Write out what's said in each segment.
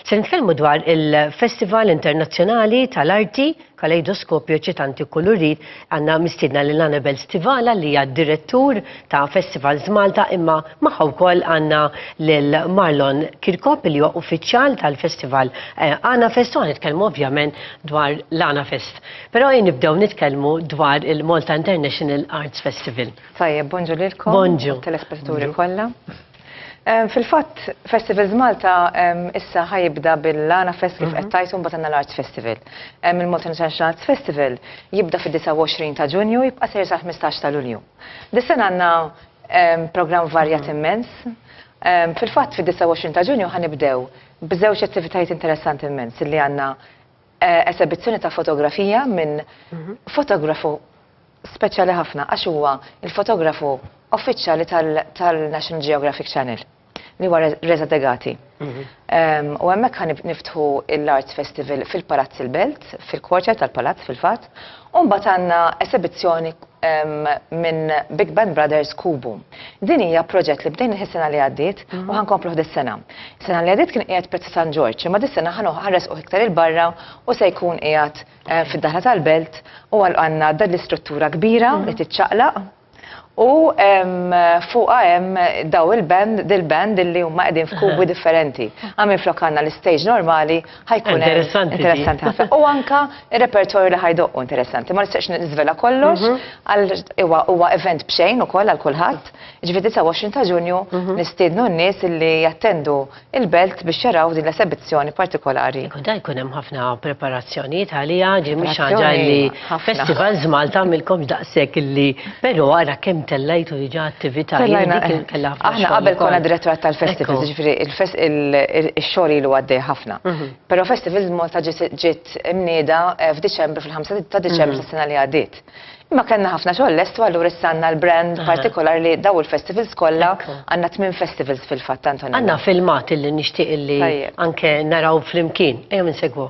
Se nitkellmu dwar il-Festival Internazzjonali tal-Arti Kaleidoskopju Eċitanti Kulurit għandna mistiedna lil Annabel Stivala li hija direttur ta' Festivals Malta imma magħha wkoll għandna lil Marlon Kirkop li huwa uffiċjal tal-Festival eh, Għana Fest u nitkellmu ovvjament dwar l-Għana Fest. Però jien nibdew nitkellmu dwar il-Malta International Arts Festival. Tajjeb, bonġu lilkom. Bonġu. Telespettaturi kollha. Fil-fatt, Festivals Malta issa ħajibda bil-Lana Fest kif qed tajtu mbagħad għandna l-Arts Festival. Il-Malta International Arts Festival jibda fid-29 ta' Ġunju jibqa' sejr sal-15 ta' Lulju. Dis-sena għandna programm varjat immens. Fil-fatt fid-29 ta' Ġunju ħa nibdew b'żewġ attivitajiet interessanti immens li għandna Esebizzjoni ta' fotografija minn fotografu speċjali ħafna għax huwa il-fotografu uffiċjali tal-National Geographic Channel li huwa Reza Degati. U hemmhekk ħan niftħu l-Arts Festival fil-Palazz il-Belt, fil-kwarċer tal-Palazz fil-fatt, u mbagħad għandna esebizzjoni minn Big Band Brothers Kubu. Din hija proġett li bdejnih is-sena li għaddiet u ħa nkompluh dis-sena. Is-sena li għaddiet kien qiegħed Piazza San Ġorġ, imma dis-sena ħa nresquh iktar 'il barra u se jkun qiegħed eh, fid-daħla tal-Belt u għandna dan l-istruttura kbira li tiċċaqlaq u fuqha hemm daw il-band, dil-band illi huma qegħdin f'kubi differenti. Għamil flok għandna l-istage normali ħajkun interessanti. Interessanti ħafna. U anka repertorju li ħajdoqqu interessanti. Ma nistax nizvela kollox, mhm. għal huwa event bxejn ukoll għal kulħadd. Ġifieri 29 ta' Ġunju mhm. nistiednu n-nies li jattendu il-belt biex jaraw din l-esebizzjoni partikolari. Ikun da jkun hemm ħafna preparazzjonijiet għalija, ġimmi xaġa li Festivals Malta għamilkom daqshekk illi però ara kemm tellajtu diġà attività Aħna qabel konna direttorat tal-festivals, ġifieri x-xogħol ilu għaddej ħafna. Mhm. Però Festivals Malta ġiet imnieda eh, f'Diċembru fil-5 ta' Diċembru mhm. tas-sena li għaddiet. Imma kellna ħafna xogħol lestu allura issa għandna l-brand partikolar li daw il-festivals kollha għandna tmien festivals fil-fatt Antonio. Għandna filmat illi nixtieq illi anke naraw flimkien, ejja minn segwu.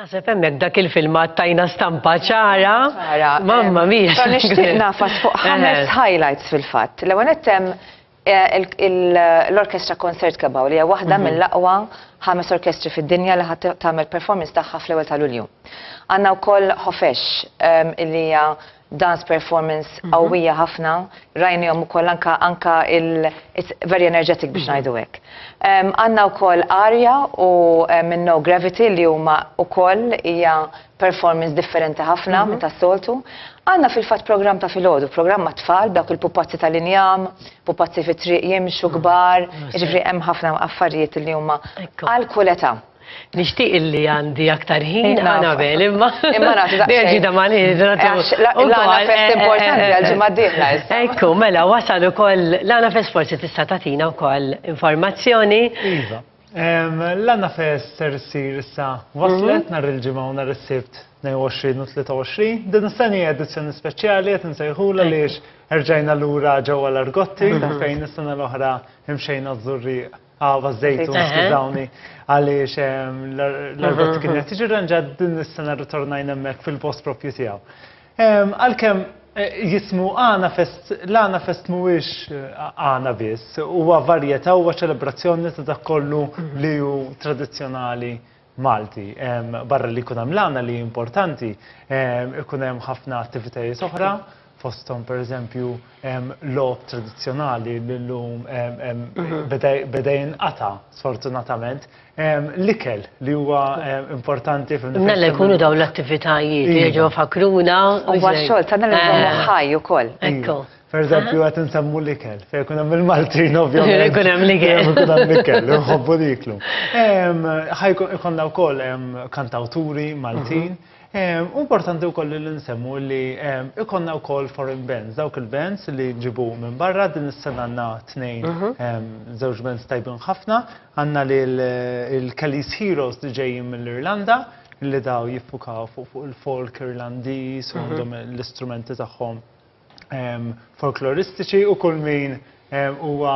Naħseb hemmhekk dak il-filmat tajna stampa ċara. Mamma mia. Però nixtieq nafas fuq ħames highlights fil-fatt. L-ewwel nett hemm l-Orkestra Concert Kebaw li hija waħda mill-aqwa ħames orkestri fid-dinja li ħadd tagħmel performance tagħha fl-ewwel ta' Lulju. Għandna wkoll Ħofex li hija dance performance mhm. qawwija ħafna, rajnihom ukoll anka anka il very energetic biex mhm. ngħidu hekk. Għandna wkoll Arja u minn No Gravity li huma wkoll hija performance differenti ħafna mhm. minn tas-soltu. Għandna fil-fatt programm ta' filgħodu, programm ma' tfal dawk il-pupazzi tal-injam, pupazzi fit-triq jimxu kbar, jiġifieri hemm ħafna affarijiet li huma għal kuleta. Nixtieq illi għandi aktar ħin Anabel, imma. Imma nagħti daqsxejn. Nerġi da mani. L-għana fest importanti għal ġimgħa diħla. Ekku, mela wasal ukoll l-għana fest forsi tista' tagħtina wkoll informazzjoni. Iva. L-għana fest ser issir issa waslet mhm. nhar il-ġimgħa u nhar is-sibt 22 u 23. Din is-sena hija edizzjoni speċjali qed insejħula li erġajna lura ġewwa l-Argotti fejn is-sena l-oħra imxejna żurrieq. Għava zejtu, skużawni, għaliex l-arbet mhm. kienet tiġi ranġat din is-sena ritornajna hemmhekk fil-post propju tiegħu. Għalkemm eh, jismu għana fest, l-għana fest mhuwiex eh, għana biss, huwa varjetà huwa ċelebrazzjoni ta' dak kollu mhm. li hu tradizzjonali Malti. Barra li jkun hemm l-għana li importanti, ikun hemm ħafna attivitajiet oħra, fosthom pereżempju logħob tradizzjonali li llum beda jinqata' sfortunatament. L-ikel li huwa importanti fil-. Mela jkunu dawn l-attivitajiet, jerġgħu jfakkruna. Huwa x-xogħol tagħna li nżommuh ħaj ukoll. Ekku. Pereżempju qed insemmu l-ikel, fejn ikun hemm il-Maltin ovvjament. Fejn ikun hemm l-ikel. Fejn ikun hemm l-ikel, inħobbu niklu. Ħajkun ikollna wkoll kantawturi Maltin. Importanti wkoll li nsemmu li ikollna wkoll foreign bands, dawk il-bands li nġibu minn barra, din is-sena għandna tnejn żewġ bands tajbin ħafna. Għandna lill-Kelly's Heroes li ġejjin mill-Irlanda, li dawn jiffukaw fuq il-folk Irlandiż u għandhom l-istrumenti tagħhom. folkloristiċi u kull min huwa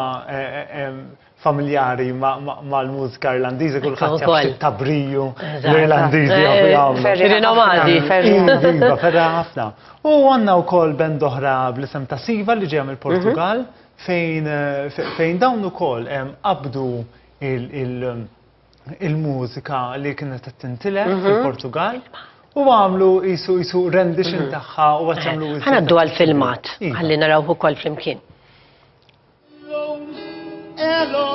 familjari mal-mużika Irlandiża kulħadd jaf xi tabriju l-Irlandiżi jafu jagħmlu. Ferri Nomadi. Ferri Iva, ferra ħafna. U għandna wkoll band oħra bl-isem ta' Siva li ġejja mill-Portugal fejn dawn ukoll qabdu il- il-mużika li kienet qed tintilef mhm. fil-Portugal u għamlu jisu jisu rendition mhm. tagħha u għat jagħmlu eh, Ħana għaddu għal-filmat, iva. għalli naraw ukoll flimkien. Hello,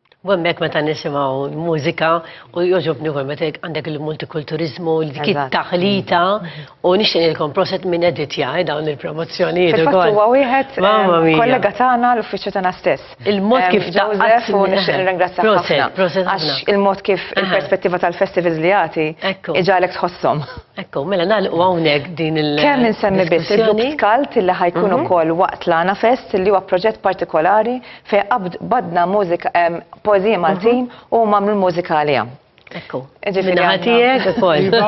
U hemmhekk meta nisimgħu l-mużika u jogħġobni wkoll meta għandek il-multikulturiżmu, dik it-taħlita u nixtieq nilkom proset minn editja eh, dawn il-promozzjonijiet ukoll. Huwa wieħed eh, kollega tagħna l-uffiċċju tagħna stess. Il-mod kif Joseph u nixtieq nirringrazzjak ħafna. Għax il-mod kif il-perspettiva tal-festivals li jagħti iġalek tħossom. Ekku, mela nagħlqu hawnhekk din il- Kemm insemmi biss il-grupp Skalt li ħajkun mhm. ukoll waqt l-Għana Fest li huwa proġett partikolari Fej qabd badna mużika poeżija Maltin mhm. u mamlu l-mużika għalija. Ekku. Minnaħatijek ukoll. Iva,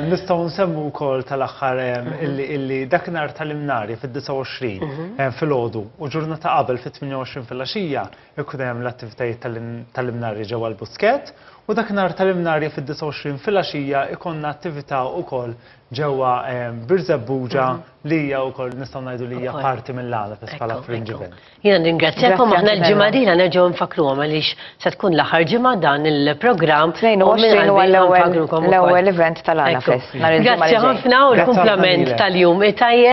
nistgħu nsemmu wkoll tal-aħħar mhm. illi dak nhar tal-imnari fid-29 mhm. fil-ħodu u ġurnata qabel fit-28 fil-għaxija ikun hemm l-attivitajiet tal-imnari ġewwa l-busket u dak nhar tal-imnari fid-29 fil-għaxija ikonna attività wkoll ġewwa Birzebbuġa mhm. li hija wkoll nistgħu ngħidu li hija parti mill-għala fis bħala fringe event. Jiena ningrazzjakom aħna l-ġimgħa dieħla nerġgħu nfakkruhom għaliex se tkun l-aħħar ġimgħa dan il-programm. 22 huwa l-ewwel event tal-għala fest. Grazzi ħafna u l-kumplament tal-jum tajjeb.